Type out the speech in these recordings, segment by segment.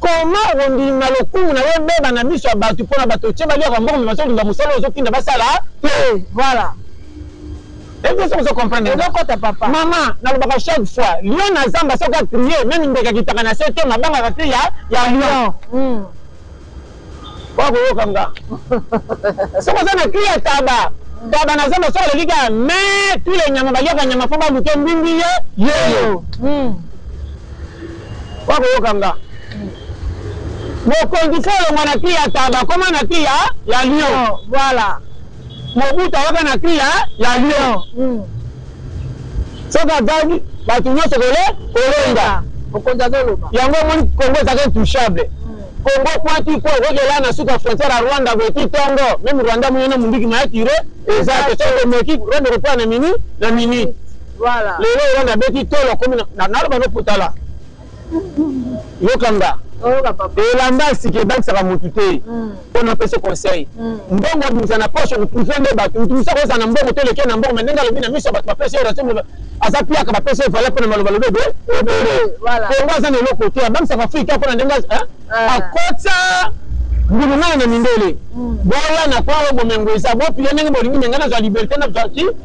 Comment okondima lokumu nayo ebeba na miso ya batu pona batu otie baliaka mbongo mais bazo luka musala oyo ozo tinda basala te voilà Est-ce que vous comprenez Ezo kota papa. Maman, nalobaka chaque fois, lion na zamba soki a crier, même ndeke akitaka na se te mabangaka te ya ya lion. Mm. Kwa koyoka nga. Soki oza na cri ya taba, taba na zamba soki alobi kaka me tous les nyama baliaka nyama mpo baluke mbingi ye yeyo. Mm. wakoyoka nga mokonzi fo olongwa na kri ya taba koma na kri ya ya lion oh, voilà mobutu awaka na kri ya ya lion hmm. soki azangi bato nyonso kole kolonga mokonzi azoloba yango omoni kongo ezaka intouchable kongo hmm. pointi ko okokela na suka frontière ya rwanda boyeti tongo meme rwanda moyena mondiki mayakire eza te soki omeki rwanda ekopola na mini na minute Voilà. Lelo Yolanda abeti tolo akomi na naloba no potala. Yokanga. Oyoka papa. Elamba asiki ebakisaka mutu te. Hmm. Mpo na pese conseil. Hmm. Mbongo abimisa na poche okutufe nde bato. Mutu musa kozala na mbongo te leke na mbongo mais ndenge alobi na miso ya bato bapesi yo raison aza piaka bapesi ye valeur mpo na maloba lobi ebe ebele. Kongo aza na eloko te abakisaka Afrika mpo na ndenge ah. akotsa ngulungana na mindele. Boya na kwa oyo bomengo eza bopiya ndenge bolingi me ngai nazwa liberté nazwa ki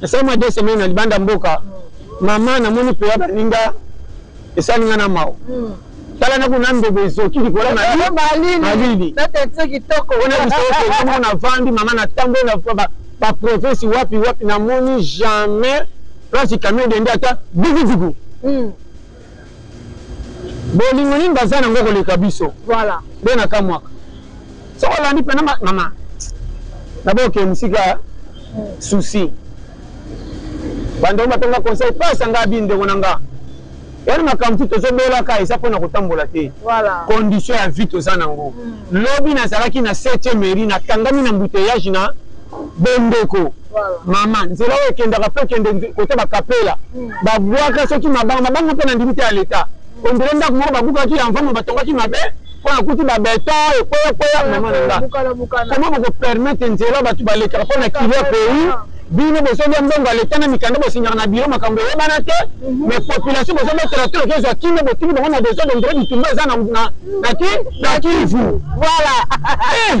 Nasali mwa deux semaines na libanda mboka. Mama, namoni mpoya baninga esali nga na mawa. Hmm. Tala na kuna ndobo ezoki likolo na malili. Natekisi kitoko. Ona biso na vandi mama na tambo na ba province wapi wapi namoni jamais place camion dende ata dugu dugu. Hmm. Bolingo nini baza na ngo koleka biso? Voilà. Nde na kamwaka. Soko olandi pena ma, mama. Na boke musika hmm. souci. Bando batonga conseil pasa nga bi ndeko na nga. Yali makambo ti tozobelaka eza mpo na kotambola te voilà. condition ya vie toza nango mm. lobi nazalaki na 7e mairie nakangami na mbuteyage na Bondeko mama nzela oyo ekendaka po ekende kote ba kapela hmm. babwaka soki mabanga mabanga mpe na ndimi te ya leta ondele ndako moko babukaki ya mvama batongaki mabe mpo nakuti babeta ekweya kweya mama na nga koma bokopermete nzela bato balekaka mpo na kilia pays bino bozolya mbongo ya leta na mikanda bosinyaka na biro makambo eyebana te mhm. mais population bozobetela te oke ezwa kimia botiki bango na desordre ndre bitumba eza na kivu voilà eh!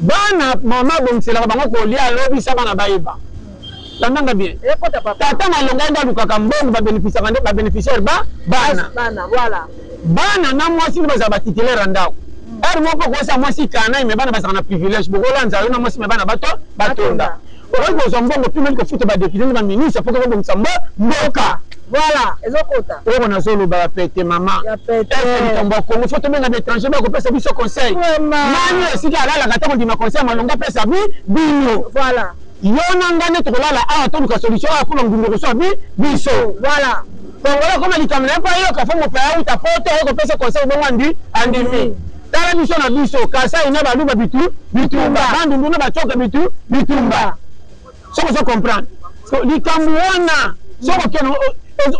Bana maman abongiselaka bango kolia alobi sa bana bayeba. Landa nga bien. Tata na elonga ye nde alukaka mbongo ba benefisaka nde ba beneficiaire ba bana. Bana voilà. Bana na mwasi nde bazala ba titulaire ya ndako. Heure moko okosa mwasi canaille mais bana bazalaka na privilège bokolanza yo na mwasi mais bana bato batonda. Okoki kozwa mbongo mpe meli kofuta ba depute na ba ministre mpo koko bongisa mbo mboka. Voilà ezo kota. Oyo na zo loba ya pete mama. Ya pete. Est likambo ya Congo faut tobenga ba étranger ba kopesa biso conseil. Nani esika alalaka to kondima conseil ya malonga pesa bi bino. Voilà. Yo na ngai nde tokolala awa toluka solution awa mpo na ngungu ekoswa bi biso. Voilà. Bongo koma likambo na ye mpo ayoka fo mopaya uta poto oyo kopesa conseil bongo andi andimi. Tala biso na biso Kasai na Baluba bitu bitumba, Bandundu na Bacoka bitu bitumba. Soko ozo comprendre likambo wana soko keno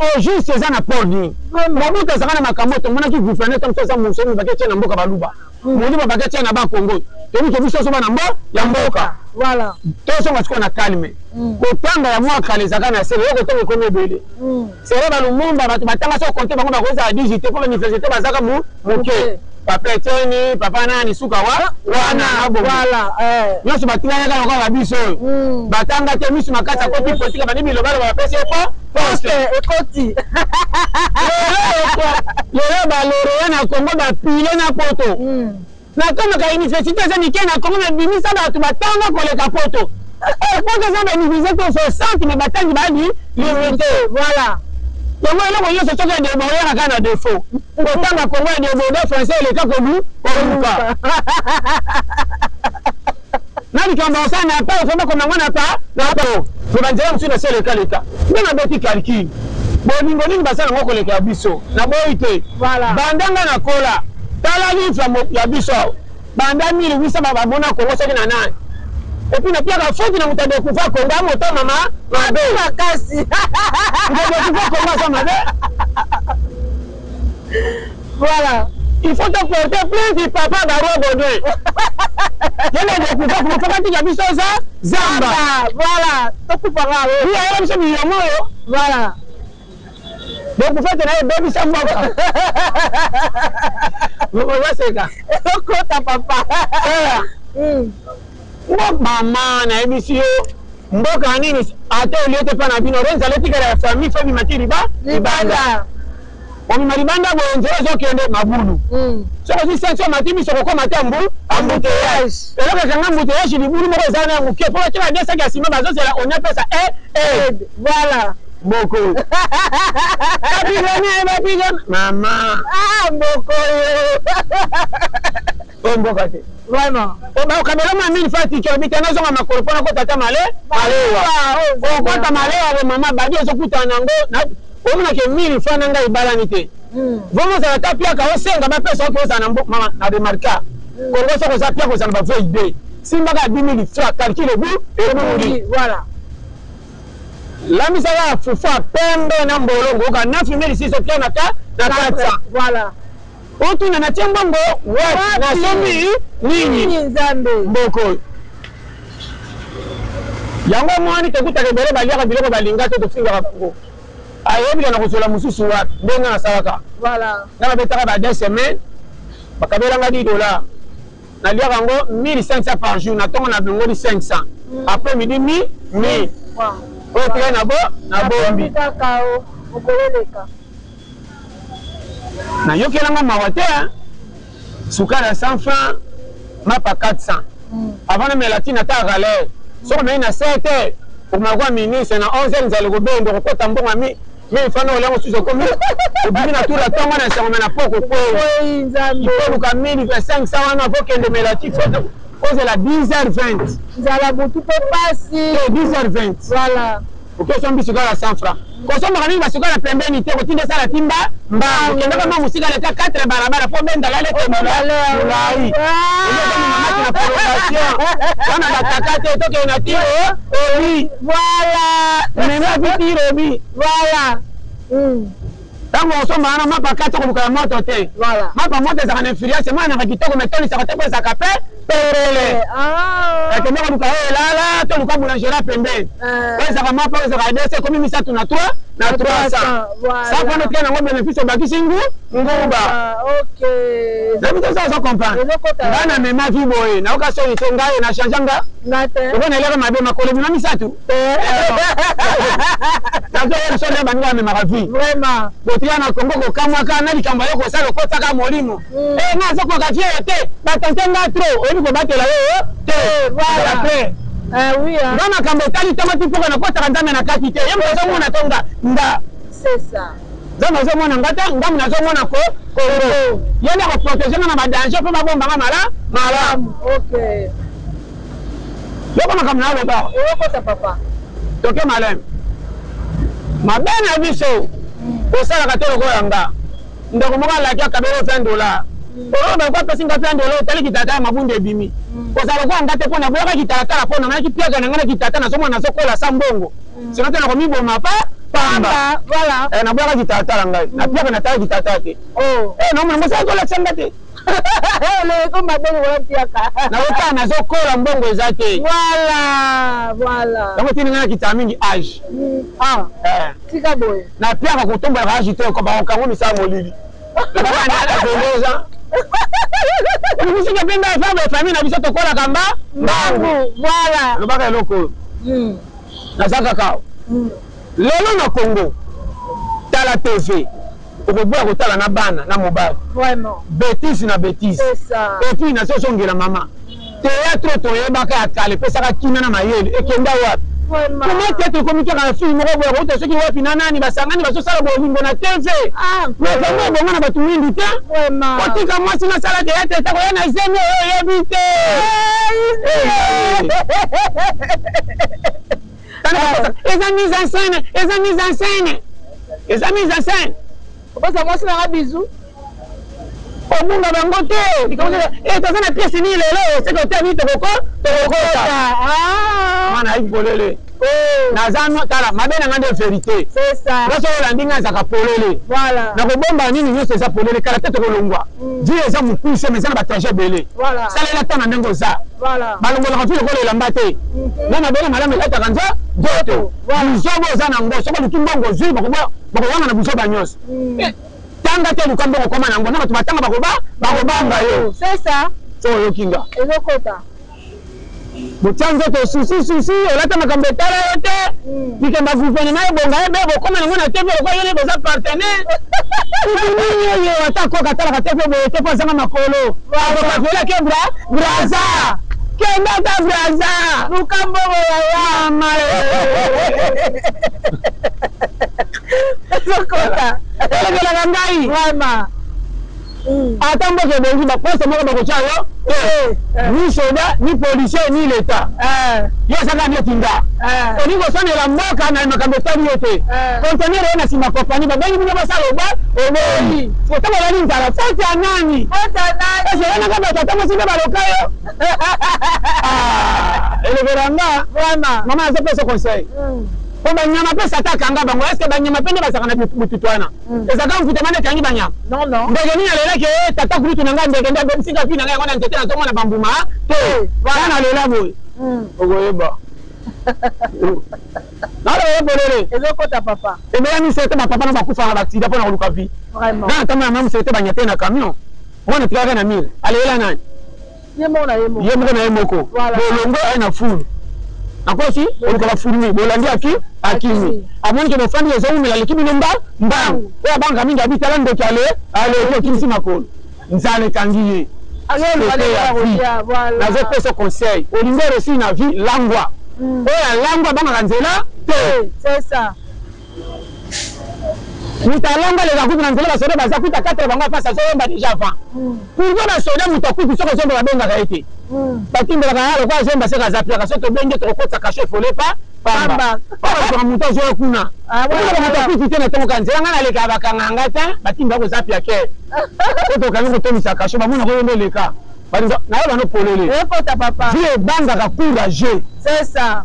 au juste eza na port ni mobutu azalaka na makambo tomonaki gouverneur to mosusu aza mosolo mobaki atie na mboka baluba moni babaki atie na bakongo toyebi ke biso osoba na mbo ya mboka tosonga sikoyo na calme kotanga ya mwa kala ezalaka na sele yo kotanga ekomi ebele Selon ba Lumumba, batu batanga soki o compter bango bakoki kozala 18 te po ba universite baza kaka muke. Papa Etienne, Papa nani, suka wa wana na bongo. Nionso batikali kaka lokola ba biso oyo. Batanga te, misu makasi akoti politique abandi bilobaloba bapesi ye po poste ekoti. Lelo ba Laureat na Congo ba pile na poto. Nakomaka universite eza mike na Congo mais bimisa batu batanga koleka poto eh, poto eza ba universite to 60 mais batangi babi universite voilà yango eloko nyonso soki adeboyaka kaka na defaut kotanga Congo ya deboda français eleka kodu koluka na likambo asala na pa ofoma komango na pa na pa me banzela mosusu na se leka leka nde nabeti calcul bolingo nini basala yango koleka ya biso na boyi te banda nga na kola tala livre ya biso awa banda 1800 bamona kongo soki na nani epuis napiaka foti na moto ya dekufa kongo ya moto mama mabe makasi dekufa kongo aza mabe Voilà. Il faut te porter plainte papa Barua Baudouin. Yele ndio kufa kufa kati ya biso za zamba. Voilà. Tokufa nga wewe. Ni yeye biso ni yango. Voilà. Donc kufa tena ye baby sa mboka. Mboka waseka. Kota papa. Voilà. Mm. Mboka mama na yebisi yo mboka nini ata olie te pa na bino renza lotikala ya famille so bima ti liba libanda omima libanda boye nzela ezokende mabulu mm. soki ozwi senso mati miso kokoma te mbu ambuteyage eloko ekanga ambuteyage libulu moko eza na moke mpo bakela desaki ya nsima bazozela oniapesa e e voilà boko bapigone bapigone mama ah, boko oyo mboka te vraiment oba okabela mwa mini fa tiki obi tena zonga makolo pona ko tata male malewa o kota malewa le mama badi ezo kuta na ngo na obi na ke mini fa na ngai balani te hmm. vraiment za ta pia ka osenga ba pesa ko za na mbo mama na remarka hmm. ko ngo so ko za pia ko za na ba voie idée simba ka 2000 fra calcul obi e moni voilà lamisa ya fufa pembe na mbolongo ka 9600 pia na ta na 400 voilà Otuna na tie mbongo wapi na sombi nini nzambe mboko yango omoni tokutaka ebele baliaka biloko balinga te tofingaka bango ayebika na kozwela mosusu wapi ndenge nasalaka na babetaka ba deux semaine bakabelanga 10 dollar naliaka yango 1500 par jour na ntongo na bilongoli 500 mm. après midi mi mi oyo teke na bo na bombi Na yokela nga mawa te hein. Sukara sans fin, mapa 400. Mm. Avant na mela tina ta rale. Soko mei na 7 heures, omakuwa minuit, c'est na 11 heures nzali kobendo, kokota mbonga mi. Mais fana olango susu okomi obimi na tula tongo na sango na poko ko. Oui, nzambe. Ko luka mini pe 500 wana ko kende mela ti foto. Kozela 10h20. Nzala butu pe pasi. 10h20. Voilà. Opesa mbi sukala 100 francs. Kosombaka mingi ba sukala pembeni te kotinda sala timba mbangu. Kenda ka mwa musika leka 4 balabala po benda lale te mula. Mulai. Ende ko mama ki na prolongation. Wana ba kaka te toke na ti o obi. Voilà. Mema ki ti obi. Voilà. Mm. Tango okosomba wana mapa kati koluka ya moto te. Voilà. Mapa moto ezaka na influence, mwana naka kitoko mais toli saka te pe zaka pe perele. Eh, ah. Eke moko luka e lala to luka boulangera pembeni. Eh. Pe zaka mapa pe zaka dese komi misatu na 3 na 300. Voilà. Sa kono tika na ngo benefice obakisi ngu nguba. Ah, ok. Zabi te sa zo comprendre. Nga na mema vi boye, na oka soni te nga na change nga. Nga te. Oko na elaka mabe makolo bima misatu. nazoyebisonde baninga bamemaka vi botiya na kongo kokamwaka na likambo yo kosala okotaka molimo mm. eh, nga azokoka vie yo te batante nga tro oyebi kobatela yo oh, te eh, ah. nga makambo etali ntango ti mpoka nakotaka nzambe na kati te ye moto azomona to nga nga nzambe azomona nga te ngambo nazomona ko kongo ye nde akoprotege nga na badanger mpo babomba nga mala malamu Yoko makambo na loba. Eyokota papa. Toke malem. Mabe na biso osalaka te lokola nga. Ndeko moko alaki akabeli 20 dollars. Oyo ba kwa pesi nga 20 dollars otali kitata ya mabunda ebimi. Kozala lokola nga te pona boyaka kitata la pona malaki piaka na nga na kitata na somo na sokola sa mbongo. Sino te na komiboma pa pamba. Voilà. Eh na boyaka kitata la ngai. Na piaka na tala kitata te. Oh. Eh na mona mosala kolakisa nga te. Loyeko mabe lokola mpiaka. Nakotaa nazokola mbongo eza te. Voilà, voilà. Yango tindi ngai nakitaka mingi age. Mm, ah, eh. Tika boye. Na mpiaka kotombolaka age te ko bakokango misala molili. Nakokanaaoza. Omisike mpe ngai efa boye famille na biso tokolaka mba mbangu. Voilà. Lobaka eloko oyo. Mm. Naza kakao. Mm. Lelo na congo tala TV okoboya kotala na bana na mobali vraiment betise na betise epuis na zozongela mama teatre toyebaka ya kala epesaka kimia na mayele ekenda wapi koma teatre ekomi kaka na fili moko boye kouta soki wapi na nani basangani bazosala bolingo na tv ah, makambo ebonga na bato mingi te kotika mwasi nasala teatre etakoya na zemi oyo oyebi te eza mise en scène eza mise en scène eza mise en scène opesa mwasi nanga bizu obunga bango te likambo eh, toza na piese nini lelo seke otami tokoko tokokota ah. mwana ayi polele oh. naza tala mabe na nga nde verité nyonso oyo olandi nga ezaka polele nakobomba nini nyonso eza polele kala te tokolongwa vie eza mokuse mais eza na batrajet ebele salela ntango na ndenge oza balongolaka mpe lokola elamba te mhm. na mabele malamu elataka nza nzoto buzoba oza na ngo soki oluki mbongo ozwi bakowanga na buzoba nyonso mhm. eh, tanga te oluka mbongo okoma na yango na bato batanga bakoba bakobanga yo oyoki nga botya nzoto susi susi olata makambo etala yo te likambo ya guvernema ebonga ye be bokoma nango na tv lokola yo nde boza partenaire nini oyo ata koka atalaka te mpe boye te mpo azanga makolo akokakela ke bra braza kenda ata braza lukambo boyayama ezokola elobelaka ngai Mm. ata mboka ebongi baposte moko bakotya yo te eh, eh. ni soda ni policier ni leta eh. yo osaka neti nga olingi kosonela mboka na makambo etali yo te conteneur oyo na nsima kopani babengi bino basala oba oboyi otanga olali nzala foti ya nani eseyanaka bato ata mosi nde baloka yo ah, elobela nga mama azopesa conseil mm. po banyama mpe sataka nga bango eske banyama mpe nde bazalaka na bututu wana Mm. Eza kaka mvutama nde ekangi banyama. Non non. Ndeke nini alela ke eh, tata kulutu na ngai ndeke nde abebisi kaka na ngai yango na nzete na tomona bambuma ah, te. Eh, voilà na lela boye. Mm. Okoyeba. naloba ye polele ezokota papa ebela misele te bapapa na bakufanga baksida mpo na koluka vie nana tamba na mwa mosele te banyate na camion mwana tikaka na mire alelela nani ye moko na ye moko ye moko na ye moko Voilà. bolongwe aye na fulu akosi olukaka fulmi bolandi aki akimi amoni ke bofandi ezowumela leki bino mba mbangu oyo abangaka mingi abi tala ndoki ale aleki okimisi makolo nzala ekangi ye Azo Sote luka ndenge ya ya vie. kolia, voilà. nazopesa conseil olingi oresi na vie langwa Mm. oyo alangwa abangaka nzela te C'est ça. moto alonga leka kutu na nzela basoda baza kuta katre bango afasi azoyemba deja avant pourkoi basoda moto akutu soki azomba babengaka ye te batimbelaka ya lokola azomba seka aza piaka soki tobenge tokokotisa kasho efole pa pamba oaaa moto azoya kuna oaa moto akutu te na ntongo ka nzela ngai naleka bakanga nga te batimba koza piake po tokangi kotondisa kasho bamona koyo nde leka naye bano polele vie ebangaka courageux c'est ça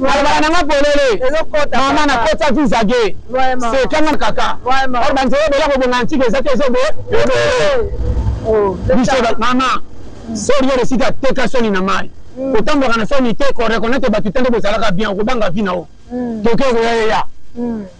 Balabala nanga polele mama na kota visa ge sekanga kaka or banzela bola kobonga antique eza te ezo bo biso mama sori yoro sika teka soni na mai kotambwaka na soni te ko reconnaitre bato te nde bozalaka bien okobanga vi na yo toke okoya yeya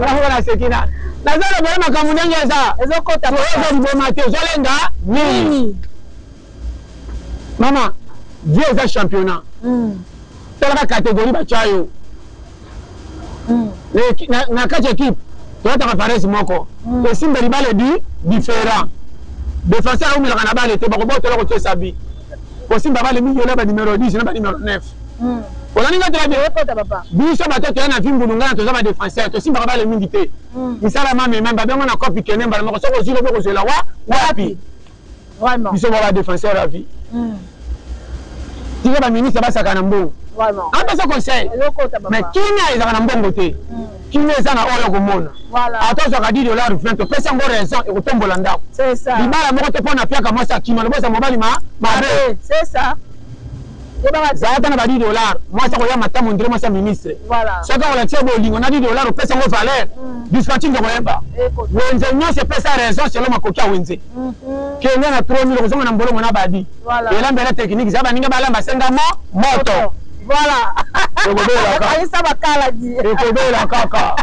nakango naseki na naza na bana makambo ndenge eza ezokota toyoka liboma te ozolenga nini mama vie eza championnat hmm. talaka catégorie batya yo hmm. na kati ekipe toyataka parese moko hmm. esimba libala ebi différent defenseur aumelaka na bale te bakobotela kotyesa bi kosimba bale miyola ba numero 10 na ba numero 9 hmm. olani nga tela biso bato toya na vimbulu ngai na toza badefenseur tosimbaka bale mingi te hmm. misala mamema babengo na copi kene mbala moko soki ozwi lobi okozwela wa wapi biso ba badefenseur ya vie hmm. tika baministre basaka na mbongo apesa conseil mais kimia ezalaka na mbongo te Kimia eza na oyo okomona. Voilà. Ata ozwaka 10 dollars 20 opesi yango raison ekotombola ndako. C'est ça. Libala moko te pona piaka mwasi akima lobo eza mobali ma mabe. C'est ça. Zala ata na ba 10 dollars mwasi akoya mata mondire mwasi ya ministre. Voilà. Soki akolakisa bolingo na 10 dollars opesi yango valeur. Mm. Dispatching ekoyeba. Wenze nyonso epesa raison selon makoki ya wenze. kenya na 3000 kozonga na mbolongo na badi elamba ela tekiniki za baninga balamba senga mo moto voilà ekobelakayisa bakaladi ekobela kaka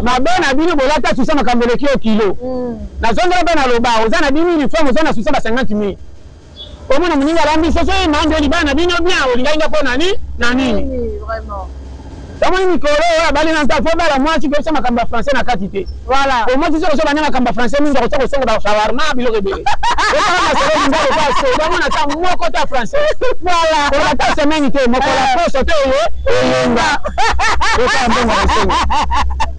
mabe na bino bolata susa makambo eleki yo kilo mm. nazongela mpe naloba oza na 10 uniforme oza na susa ba 50 mille omona moninga alambi soso ye maa nde libala na bino bien olingaki nga mpo na nini na nini omoni mikolo oyo abali na nta fo bala mwasi koyebisa makambo ya français na kati te omwasi soki oso banda makambo ya français mingi akosa kosonga bashawarma biloko ebele oamasolombamona ta moko ta français olata semaine te mokola poso te eye eyenga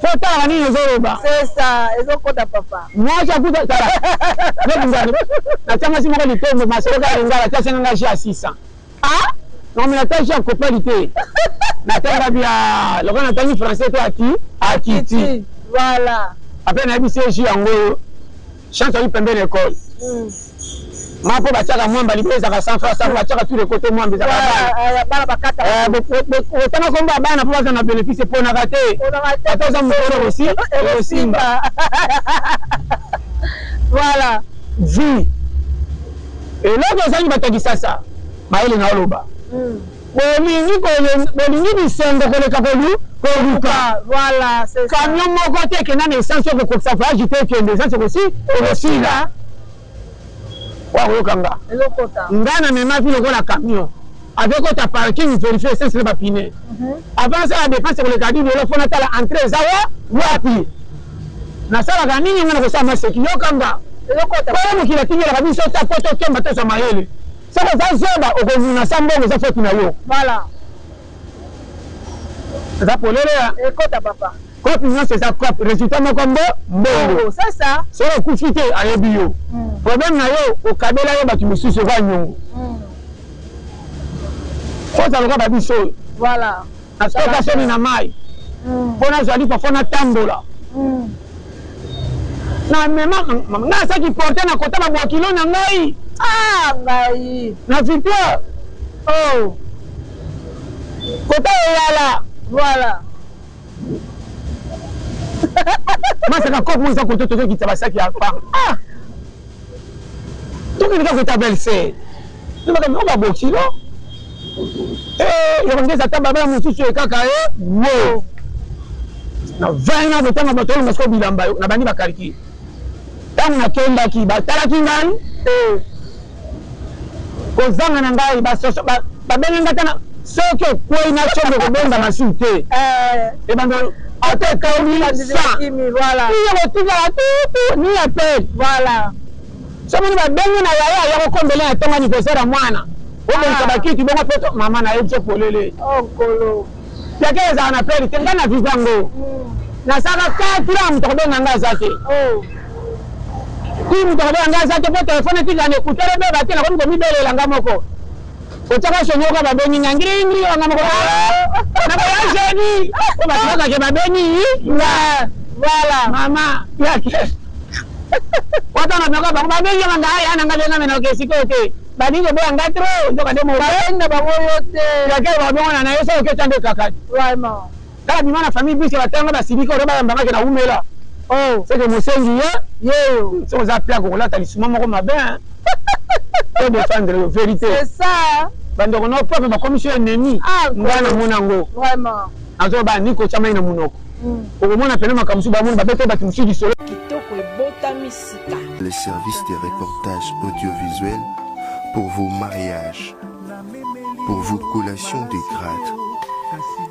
Fotaka nini ezoloba? C'est ça, ezokota papa. Mwasi akuta tala. Neti ngani? Natia mwasi moko litembo masolo kaka lingala atia senga nga jia 600. Ah? Non mais natia jia kopali te. Natanga bia lokola natangi français to aki akiti. Voilà. Après nayebi se jia yango chance ali pembeni ya ekole ma mpo batiaka mwamba libele ezalaka sans face yango batiaka tout le côté mwamba ezalaka otanga kombo ya bana mpo baza na bénéfice eponaka te ata oza mokolo okosi okosimba voilà vi eloko ezangi bato ya kisasa bayele na oloba Bolingi kolu bolingi bisengo koleka kolu koluka voilà c'est ça camion moko te ekenda na essence oko kokisa voyage te ekende essence oko si oko sila wa koyoka nga eloko ta nga na mema vie lokola camion avec kota parking verifie essence na ba pine mhm. avant ça la dépense koleka dini olo fona tala entrée eza wa wapi nasalaka nini nga na kosala maseki yoka nga oyo mokili atingelaka biso ta po tokemba tozwa mayele Soki oza zoba okonuna sa mbongo eza faute na yo. Voilà. Eza polele ya. Ekota papa. Coop nyonso eza coop resultat moko mbo mbongo. C'est ça. Soki okufi te ayebi yo. Hmm. Problème na yo okabela yo bato mosusu oza nyongo. Hmm. Fota lokola babiso oyo. Voilà. Nasoka soni na mayi mpo nazali parfois natambola na mema ngai asaki porte na kota na bwakilo na ngai ah, ngai na victoire oh. kota eyala voilà masaka kopo eza koto tozokitisa basaki ya pa ah. tokendeka kota belse Lobaka no ba bokilo. Eh, yo ngeza ata baba mususu e kaka e. Wo. Na 20 na botanga bato na masko bilamba yo na bani ba kariki. Tango na kendaki ba talaki ngai. Eh. Kozanga na ngai ba soso ba babenga ngata na soki okwei na chombo kobenda masumu te. Eh. Ebanda ata ekomi sa. Voilà. Iyo botikala tutu ni appel. Voilà. Soki moni ba bengi na yaya ya ko kombele na tonga ni kozera mwana. Bo bongisa ah. ba kiti bongo pe to mama na ye biso polele. Oh kolo. Ya ke ezala na peri te nga na visa ngo. Hmm. Na saka ka tira moto ko benga nga za te. Oh. Ki moto ko benga nga za te po telefone ti na ne kutere be ba te na ko mi ko mi belela nga moko. Kotaka soni oka babeni nga ngiri ngiri wanga moko ah! na koya jeni o bato bakake babeni nga voilà mama ya kesi wata na bako bango babeni nga nga ya na nga benga mena okesi ko te balingi koboya nga trop nzoka nde mobenga bango yo te ya ke babongo na na yo soko ketande kakati vraiment Tala bima na famille biso ba tanga ba silika ora ba yamba ngake na umela. Oh, c'est que mosengi ye. Yeyo. C'est oza pia ko lata lisuma moko mabe. Hein? Pour défendre la vérité. C'est ça. Bando kono papa ba commission ennemi. Ah, ngana mona ngo. Vraiment. Azo ba niko chama ina munoko. Mm. Okomona pena makambo su ba mona ba bete ba tumusu disolo. Kitoko ebotami sika. Le service de reportage audiovisuel pour vos mariages, pour vos collations de grades